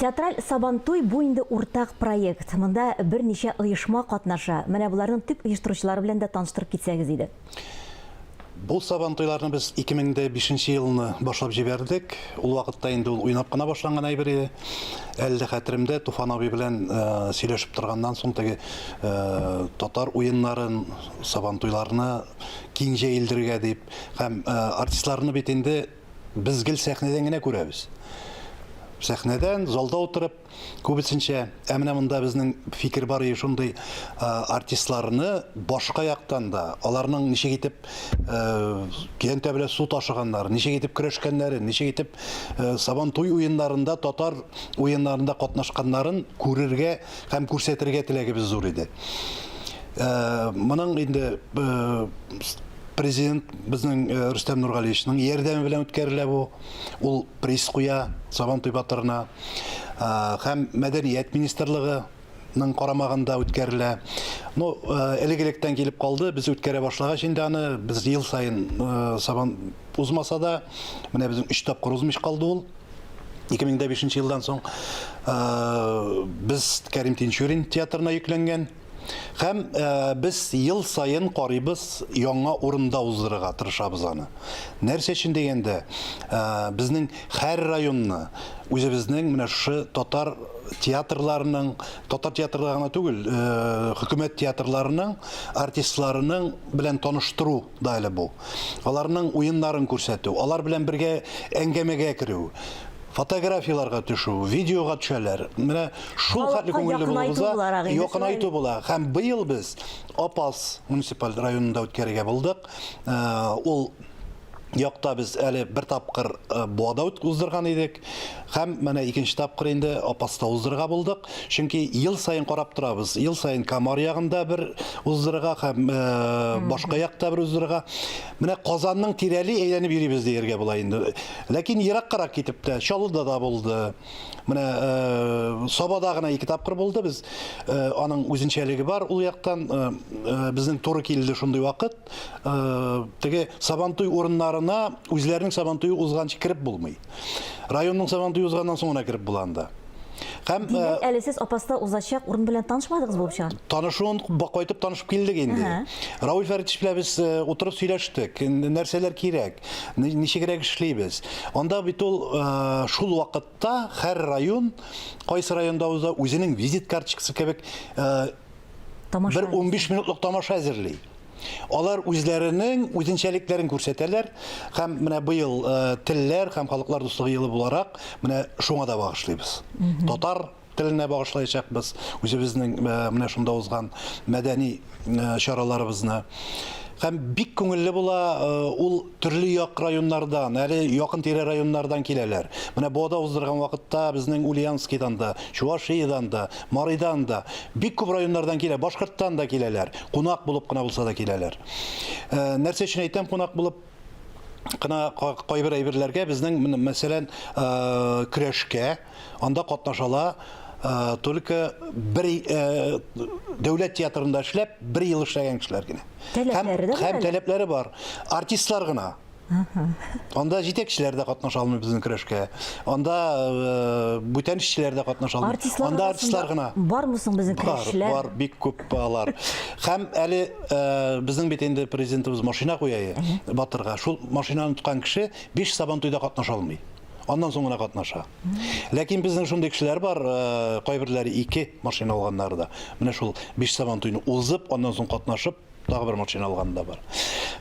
Театраль Сабантуй бу инде уртак проект. Монда берничә оешма катнаша. Менә боларның төп оештыручылары белән дә таныштырып китсәгез иде. Бу Сабантуйларны без 2005 нче елны башлап җибәрдек. Ул вакытта инде ул уйнап кына башланган әйбер иде. Әле дә хәтеремдә, Туфан абый белән сөйләшеп торганнан соң, теге татар уеннарын, Сабантуйларны киң җәелдерергә дип һәм артистларны бит инде, Без гел сәхнәдән генә күрәбез. Сәхнәдән, залда утырып, күбесенчә, ә менә монда безнең фикер бар иде шундый артистларны башка яктан да, аларның ничек итеп киянтә белән су ташыганнарын, ничек итеп көрәшкәннәрен, ничек итеп сабан туй уеннарында, татар уеннарында катнашканнарын күрергә һәм күрсәтергә теләгебез зур иде. Моның инде президент безнең э, Рөстәм Нургалиевичның ярдәме белән үткәрелә бу. Ул приз куя Сабан туй батырына. Э, һәм мәдәният министрлыгы ның карамагында үткәрелә. Ну, э, элек-электән килеп калды, без үткәрә башлагач инде аны, без ел сайын сабан узмаса да, менә безнең 3 тапкыр узмыш калды ул. 2005 елдан соң без Кәрим Тинчурин театрына йөкләнгән. Һәм без ел саен карыйбыз, яңа урында уздырырга тырышабыз аны. Нәрсә өчен дигәндә, безнең һәр районны үзебезнең менә шушы татар театрларының, татар театрлары гына түгел, хөкүмәт театрларының артистларының белән таныштыру да әле бу. Аларның уеннарын күрсәтү, алар белән бергә әңгәмәгә керү, фотографияләргә төшү, видеога төшәләр. Менә шул хәтле күңелле булуыбызга якынайту була. Һәм быел без Апас муниципаль районында үткәрергә булдык. Ул якта без әле бер тапкыр Буада уздырган идек. Һәм менә икенче тапкыр инде Апаста уздырырга булдык. Чөнки ел саен карап торабыз. Ел саен Камар ягында бер уздырырга һәм э, башка якта бер уздырырга. Менә Казанның тирәли әйләнеп йөрибез дияргә була инде. Ләкин ераккарак китеп тә, Чаллыда да булды. Менә э, Сабада гына ике тапкыр булды без. Э, аның үзенчәлеге бар ул яктан. Э, э, безнең туры килде шундый вакыт. Э, теге Сабантуй урыннарына үзләренең Сабантуе узганчы кереп булмый. Районның Сабантуй узганнан соң гына кереп була анда. Һәм Димәк, әле сез Апаста узачак урын белән танышмадыгыз булып чыга. Танышуын кайтып танышып килдек инде. Рауль Фәритович белән без утырып сөйләштек, нәрсәләр кирәк, ничегрәк эшлибез. Анда бит ул шул вакытта һәр район, кайсы районда уза, үзенең визит карточкасы кебек бер 15 минутлык тамаша әзерли. Алар үзләренең үзенчәлекләрен күрсәтәләр һәм менә быел э, телләр һәм халыклар дуслыгы елы буларак менә шуңа да багышлыйбыз. Татар теленә багышлаячакбыз үзебезнең э, менә шунда узган мәдәни э, чараларыбызны. Һәм бик күңелле була э, ул Төрле як районнардан, әле якын-тирә районнардан киләләр. Менә Бода уздырган вакытта безнең Ульяновскидан да, Чувашиядән да, Марыйдан да, бик күп районнардан килә, Башкорттан да киләләр. Кунак булып кына булса да киләләр. Нәрсә өчен әйтәм кунак булып кына, кайбер әйберләргә безнең, мәсәлән, көрәшкә, Анда катнашала только бер дәүләт театрында эшләп, бер ел эшләгән кешеләр генә. Таләпләре дә һәм таләпләре бар. Артистлар гына. Анда җитәкчеләр дә катнаша алмый безнең көрәшкә. Анда э, бүтән эшчеләр дә катнаша алмый. Артистлар Анда артистлар гына. Бармы соң безнең көрәшчеләр? Бар, бик күп алар. Һәм әле э, безнең бит инде президентыбыз машина куя, батырга. Шул машинаны тоткан кеше биш сабантуйда катнаша алмый. Аннан соң гына катнаша. Ләкин безнең шундый кешеләр бар, э, кайберләре ике машина алганнары да. Менә шул биш сабан туйны узып, аннан соң катнашып, тагы бер машина алганы да бар.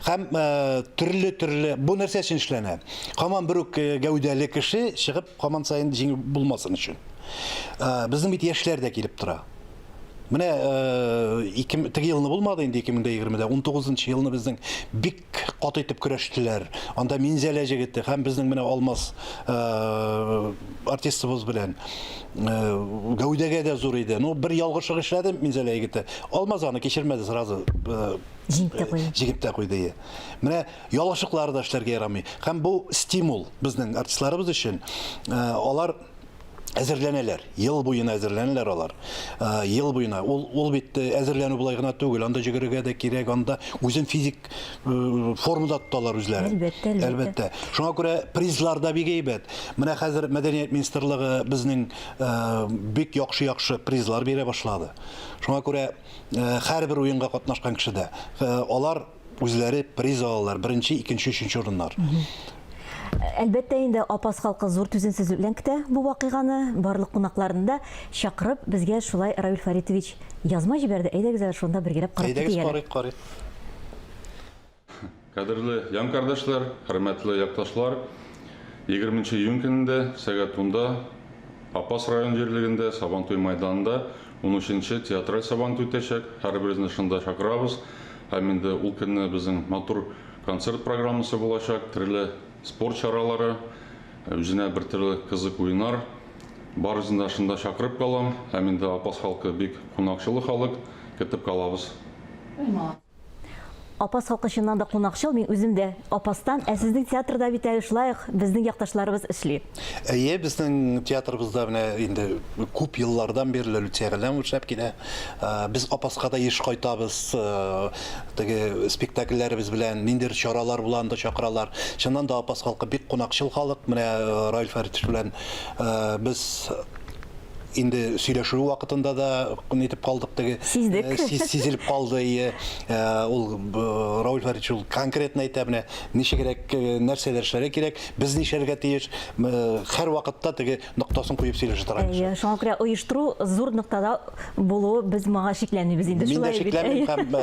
Һәм э, төрле төрле бу нәрсә өчен эшләнә? Хаман бер үк э, гәүдәле кеше чыгып хаман саен җиңел булмасын өчен. Э, безнең бит яшьләр дә килеп тора. Менә э, ике, теге елны булмады инде 2020-дә, 19 елны безнең бик Бик каты итеп көрәштеләр. Анда Минзәлә җегете һәм безнең менә Алмаз артистыбыз белән гәүдәгә дә зур иде. Ну, бер ялгышлык эшләде Минзәлә егете. Алмаз аны кичермәде сразу. Җиңеп тә куйды. Җиңеп тә куйды. Менә ялгышлыклар да эшләргә ярамый. Һәм бу стимул безнең артистларыбыз өчен. Алар әзерләнәләр, ел буена әзерләнәләр алар. Ел буена ул ул бит э, әзерләнү болай гына түгел, анда җөгерергә дә кирәк, анда үзен физик э, формада тоталар үзләре. Әлбәттә, әлбәттә. Әлбәттә. Шуңа күрә призлар да бик әйбәт. Менә хәзер мәдәният министрлыгы безнең э, бик яхшы-яхшы призлар бирә башлады. Шуңа күрә һәрбер уенга катнашкан кеше дә алар Үзләре приз алалар, беренче, икенче, өченче урыннар. Әлбәттә инде Апас халкы зур түземсезлек белән көтә бу вакыйганы. Барлык кунакларны да чакырып, безгә шулай Равил Фаритович язма җибәрде. Әйдәгез әле шунда бер герәп карап китик әле. Әйдәгез карыйк, карыйк. Кадерле ян кардәшләр, хөрмәтле якташлар, 20 нче июнь көнендә сәгать унда Апас район җирлегендә Сабантуй мәйданында унөченче театраль Сабантуй үтәчәк. Һәрберезне шунда чакырабыз. Һәм инде ул көнне безнең матур концерт программасы булачак, төрле спорт чаралары, үзенә бер төрле кызык уеннар. Барысын да шунда чакырып калам. Һәм инде Апас халкы бик кунакчылы халык, көтеп калабыз. Апас халкы чыннан да кунакчыл, мин үзем дә Апастан, ә сезнең театрда бит әле шулай ук безнең якташларыбыз эшли. Әйе, безнең театрыбызда менә инде күп еллардан бирле Люция Галләмова эшләп килә. Ә, Без Апаска да еш кайтабыз. Э, Теге спектакльләребез белән ниндидер чаралар була, анда чакыралар. Чыннан да Апас халкы бик кунакчыл халык. Менә э, Раил Фәритович белән э, без инде сөйләшү вакытында да нитеп калдык теге. Сиздек. Э, сиз- Сизелеп калды, ие. Э, Ул э, Раил Фәритович ул конкретно әйтә менә ничегрәк, э, нәрсәләр эшләргә кирәк. Без нишләргә тиеш? Хәр вакытта теге ноктасын куеп сөйләшә торган кеше. Шуңа күрә оештыру зур ноктада булу без моңа шикләнмибез инде. Мин дә шикләнмим һәм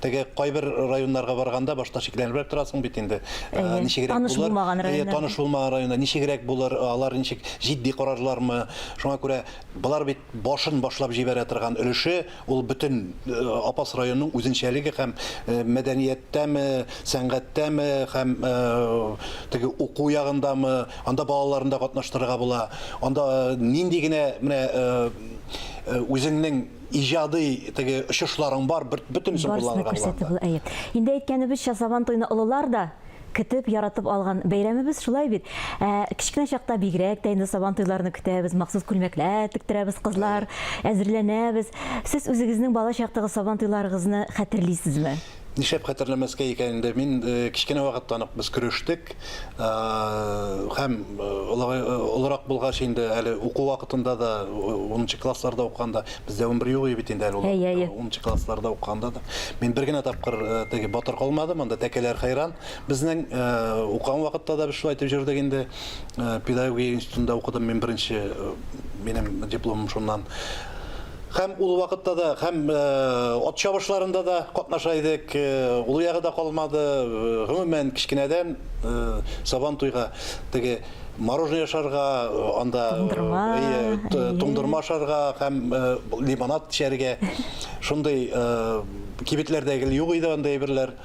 теге кайбер районнарга барганда башта шикләнебрәк торасың бит инде. Ничегрәк булыр? Таныш булмаган районнар. Таныш булмаган районнар ничегрәк булыр? Алар ничек җитди карарлармы? Шуңа күрә болар бит Башын башлап җибәрә торган өлеше, ул бөтен Апас районының үзенчәлеге һәм мәдәнияттәме, сәнгатьтәме һәм теге уку ягындамы, анда балаларны да катнаштырырга була. Анда нинди генә менә үзеңнең иҗади теге очышларың бар, бөтенесен кулланырга була анда. Барысын да күрсәтте бу, әйе. Инде әйткәнебезчә, Сабантуйны олылар да, Көтеп, яратып алган бәйрәмебез шулай бит. Ә, кечкенә чакта бигрәк тә инде Сабан туйларны көтәбез, махсус күлмәкләр тектерәбез кызлар, әзерләнәбез. Сез үзегезнең бала чактагы Сабан туйларыгызны хәтерлисезме? Нишләп хәтерләмәскә икән инде? Мин кечкенә вакыттан ук без көрештек. Һәм олыгай, олырак булгач инде әле уку вакытында да, унынчы классларда укыганда Бездә ун бер юк бит инде әле ул. Унынчы классларда укыганда да. Мин бер генә тапкыр теге батыр калмады, монда тәкәләр хәйран. Безнең укыган вакытта да без шулай итеп җөрдек инде. Педагогия институтында укыдым мин беренче, минем дипломым шуннан. Хәм ул вакытта да, хәм ат чабышларында да катнаша идек. Ул ягы да калмады. Гомумән, кечкенәдән Сабан туйга теге Мороженое яшарга, анда туңдырма, туңдырма ашарга һәм лимонад эчәргә. Шундый кибетләрдә гел юк иде андый әйберләр.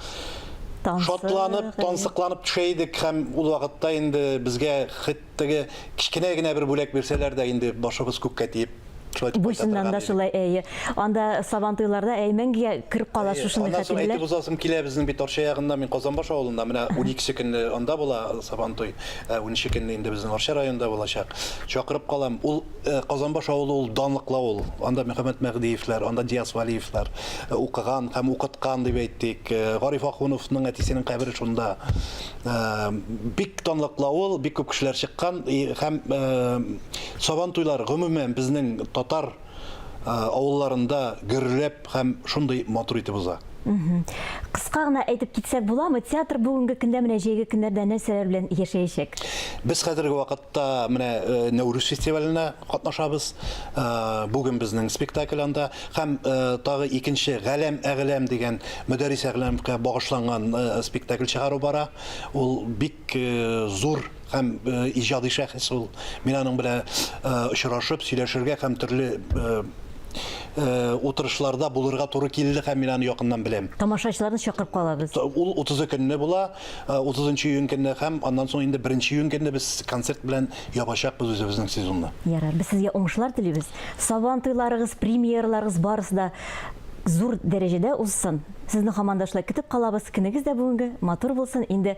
Шатланып, тансыкланып төшә идек һәм ул вакытта инде безгә хәтта кечкенә генә бер бүләк бирсәләр дә инде башыбыз күккә тиеп Шулай дип Буйсыннан кайтатырган да идек. шулай, әйе. Анда Сабантуйларда әй мәңгегә кереп кала Әйе. шушындый Аннан соң әйтеп хәтирәләр. узасым килә, безнең бит Арча ягында, мин Казанбаш авылында, менә уникесе көнне анда була Сабантуй, ә уненче көнне инде безнең Арча районында булачак. Чакырып калам. Ул э, Казанбаш авылы ул данлыклы авыл. Анда Мөхәммәт Мәһдиевләр, анда Диас Вәлиевләр э, укыган һәм укыткан дип әйтик. Э, Гариф Ахуновның әтисенең кабере шунда. Э, Бик данлыклы авыл, бик күп кешеләр чыккан и- һәм э, Сабантуйлар, гомумән, безнең татар авылларында гөрләп һәм шундый матур итеп уза. Кыска гына әйтеп китсәк буламы, театр бүгенге көндә, менә җәйге көннәрдә нәрсәләр белән яшәячәк? Без хәзерге вакытта менә Нәүрүз фестиваленә катнашабыз. Бүген безнең спектакль анда һәм тагы икенче Галәм Әгъләм дигән Мөдәррис Әгъләмгә багышланган спектакль чыгару бара. Ул бик зур һәм иҗади шәхес ул. Мин аның белән очрашып, сөйләшергә һәм төрле утырышларда булырга туры килде һәм мин аны якыннан беләм. Тамашачыларны чакырып калабыз. Ул 30 ы көнне була, 30 нчы июнь көнне һәм аннан соң инде 1 нче июнь көнне без концерт белән ябачакбыз үзебезнең сезонны. Ярар, без сезгә уңышлар телибез. Сабан туйларыгыз, премьераларыгыз барысы да зур дәрәҗәдә узсын. Сезне һаман да шулай көтеп калабыз. Көнегез дә бүгенге матур булсын. Инде